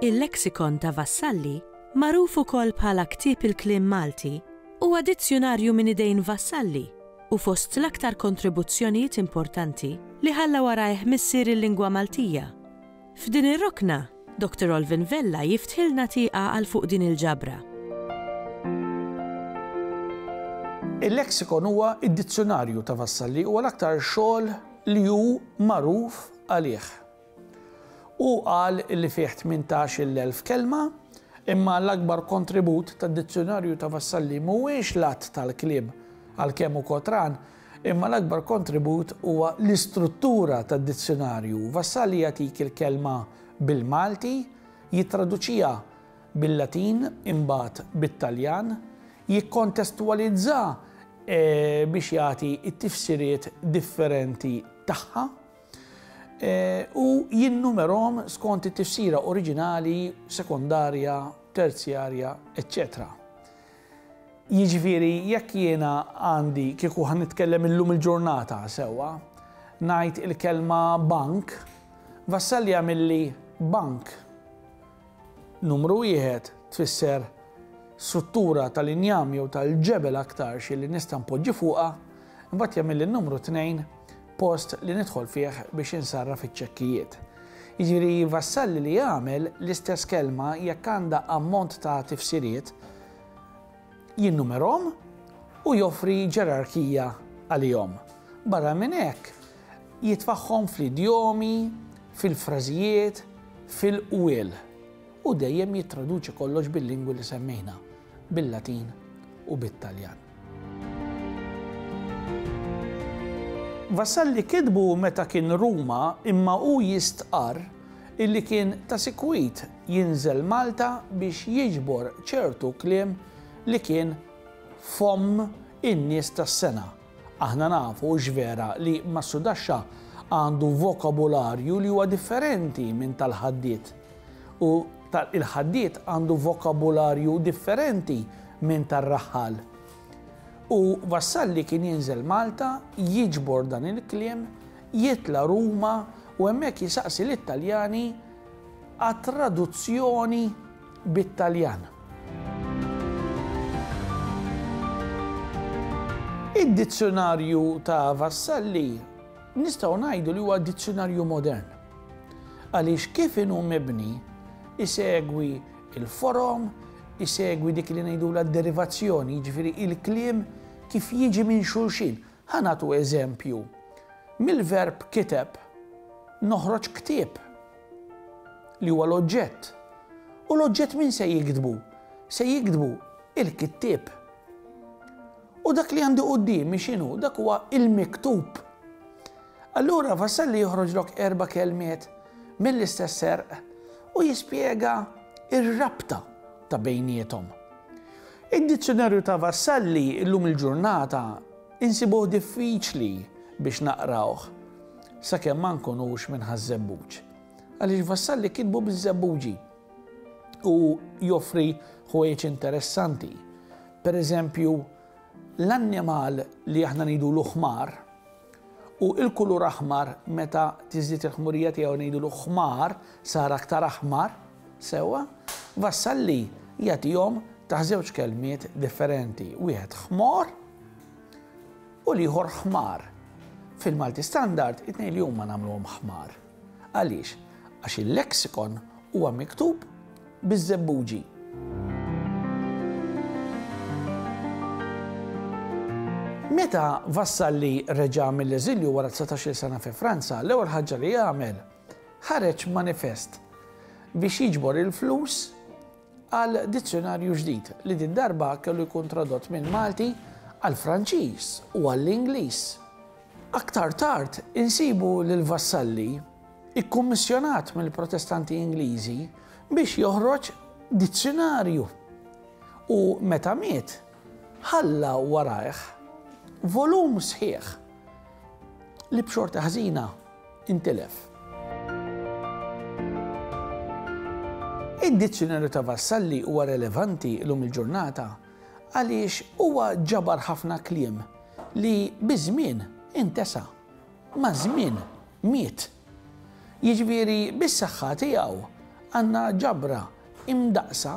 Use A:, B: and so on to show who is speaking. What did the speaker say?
A: Il-Lexicon ta' Vassalli, magħruf ukoll bħala Ktieb il-Kliem Malti, huwa dizzjunarju minn idejn Vassalli u fost l-aktar kontribuzzjonijiet importanti li ħalla warajh missier il-lingwa Maltija. F'din ir-rokna, Doctor Olvin Vella jiftħilna tieqa għal fuq din il-ġabra.
B: Il-Lexicon huwa d-dizzjunarju ta' Vassalli huwa l-aktar xogħol li hu magħruf għalih. Hu qal li fih tmintax-il elf kelma, imma l-akbar kontribut tad-dizzjunarju ta' Vassalli mhuwiex l-għadd tal-kliem, għalkemm hu kotran, Imma l-akbar kontribut huwa l-istruttura tad-dizzjunarju. Vassalli jagħtik il-kelma bil-Malti, jittraduċiha bil-Latin, imbagħad bit-Taljan, jikkontestwalizza biex jagħti t-tifsiriet differenti tagħha, u jinnumerahom skont it-tifsira oriġinali, sekondarja, terzjarja, eċċetera Jiġifieri, jekk jiena għandi, kieku ħa nitkellem illum il-ġurnata, sewwa, ngħid il-kelma bank, Vassalli għamilli bank. Numru wieħed tfisser struttura tal-injam jew tal-ġebel aktarx li nista' npoġġi fuqha, imbagħad jagħmilli n-numru tnejn post li nidħol fih biex insarraf iċ-ċekkijiet. Jiġifieri Vassalli li jagħmel l-istess kelma jekk għandha ammont ta' tifsiriet, jinnumerhom u joffri ġerarkija għalihom. Barra minn hekk, jitfagħhom fl-idjomi, fil-frażijiet, fil-qwiel u dejjem jittraduċi kollox bil-lingwi li semmejna, bil-Latin u bit-Taljan. Vassalli kitbu meta kien Ruma imma hu jistqarr illi kien ta' sikwit jinżel Malta biex jiġbor ċertu kliem li kien f'fomm in-nies tas-sengħa. Aħna nafu x'vera li Massudaxxa għandu vokabularju li huwa differenti minn tal-Ħaddied. u ta' il-ħaddied għandu vokabularju differenti minn tar-raħħal. U Vassalli kien jinżel Malta, jiġbor dan il-kliem, jitla' Ruma u hemmhekk jisaqsi lit-Taljani għat-traduzzjoni bit-Taljan. Id-dizzjunarju ta' Vassalli Nistgħu ngħidu li huwa dizzjunarju modern għaliex kif inhu mibni isegwi l-forom, isegwi dik li ngħidulha d-derivazzjoni, jiġifieri il-kliem kif jiġi minn xulxin. Ħa nagħtu eżempju. Mill-verb kiteb noħroġ ktieb li huwa l-oġġett. U l-oġġett min se jiktbu? Se jiktbu il-kittieb. U dak li għandi quddiemi x'inhu? Dak huwa l-miktub. Allura Vassalli joħroġlok erba' kelmiet mill-istess serq u jispjega r-rabta ta' bejniethom. Id-Dizzjunarju ta' Vassalli llum il-ġurnata insibuh diffiċli biex naqrawh sakemm ma nkunux minn Ħaż-Żebbuġ, għaliex Vassalli kitbu biż-Żebbuġi u joffri ħwejjeġ interessanti Per eżempju, l-annimal li aħna ngħidulu ħmar, u l-kulur aħmar meta tiżdied il-ħmurija tiegħu ngħidulu ħmar, sar aktar aħmar, sewwa, Vassalli jagħtihom taħt żewġ kelmiet differenti, wieħed ħmor u l-ieħor ħmar. Fil-Malti Standard, it-tnejn li huma nagħmluhom ħmar. Għaliex? Għax il-leksikon huwa miktub biż-żebbuġi. Meta Vassalli reġa' mill-eżilju wara 19-il sena fi Franza, l-ewwel ħaġa li għamel ħareġ manifest biex jiġbor il-flus għal dizzjonarju ġdid li din darba kellu jkun tradott minn Malti għal Franċiż u għall-Ingliż. Aktar tard insibu lil Vassalli ikkummissjonat mill-Protestanti Ingliżi biex joħroġ dizzjonarju u meta miet ħalla warajh volum sħiħ li b'xorta ħżina intilef. Id-Dizzjunarju ta' Vassalli huwa relevanti llum il-ġurnata għaliex huwa ġabar ħafna kliem li biż-żmien intesa, maż-żmien miet. Jiġifieri bis-saħħa tiegħu għandna ġabra imdaqqsa